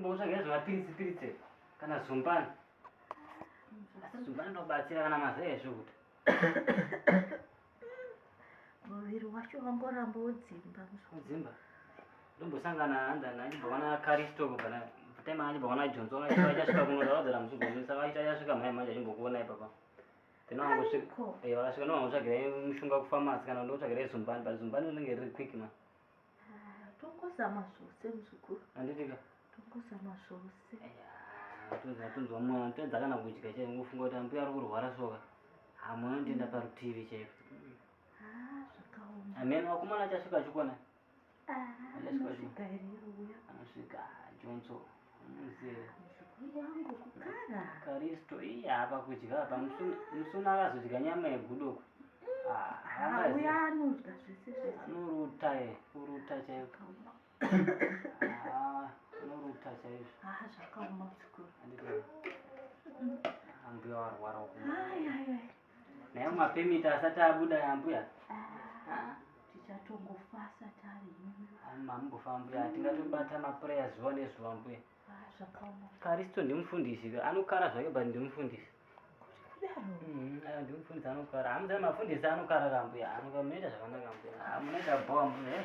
Mbotsvaga zvemapiritsi piritsi kana zumbani. asizvinobatsira kana mazai ezvokuti muviri wacho wangoramba wodzimba mudzimba ndombosangana andana achibvaona karisto kubvana time achibvaona jonzo achasvika kunoda vadzara musugonisa vaita achasvika mhai manje achimbokuona ipapa then wangosvika eh, vakasvika novangotsvagira mushonga kufamasi kana ndotsvagira zumbani but zumbani unenge riri quick man Ah, tongozama zvose muzukuru handitika tongozama zvose tonzwa mwana tedza kana kudya chai ngofunga kuti ambuya ari kurwara soka hamuna nditenda mm. parutivi chaiko ah, zvakaoma amene wakumana achasvika achikona ah, anosvika jonso muzera muzukuru wangu kukara karisto iye apa kudya apa musuna akazodya nyama yegudoku uya anodya zvese zvese anoruta ye kuruta chaiko anoruta chaizvo haa zvakaoma muzukuru ambuya warwara uku Naye mapemita asati abuda yambuya. Ah, tichatongofasa tari. Mambofa mbuya, tingatobata maprayers zuva nezuva mbuya. Ah, zvakaoma. Karisto ndimufundisi, anokara zvake but ndimufundisi. Mm, ah, ndimufundisi anokara. Hamudza mafundisi anokara kambuya, anokamunoita zvakanaka mbuya. Hamunoita ah, bhowa mbuya. Eh.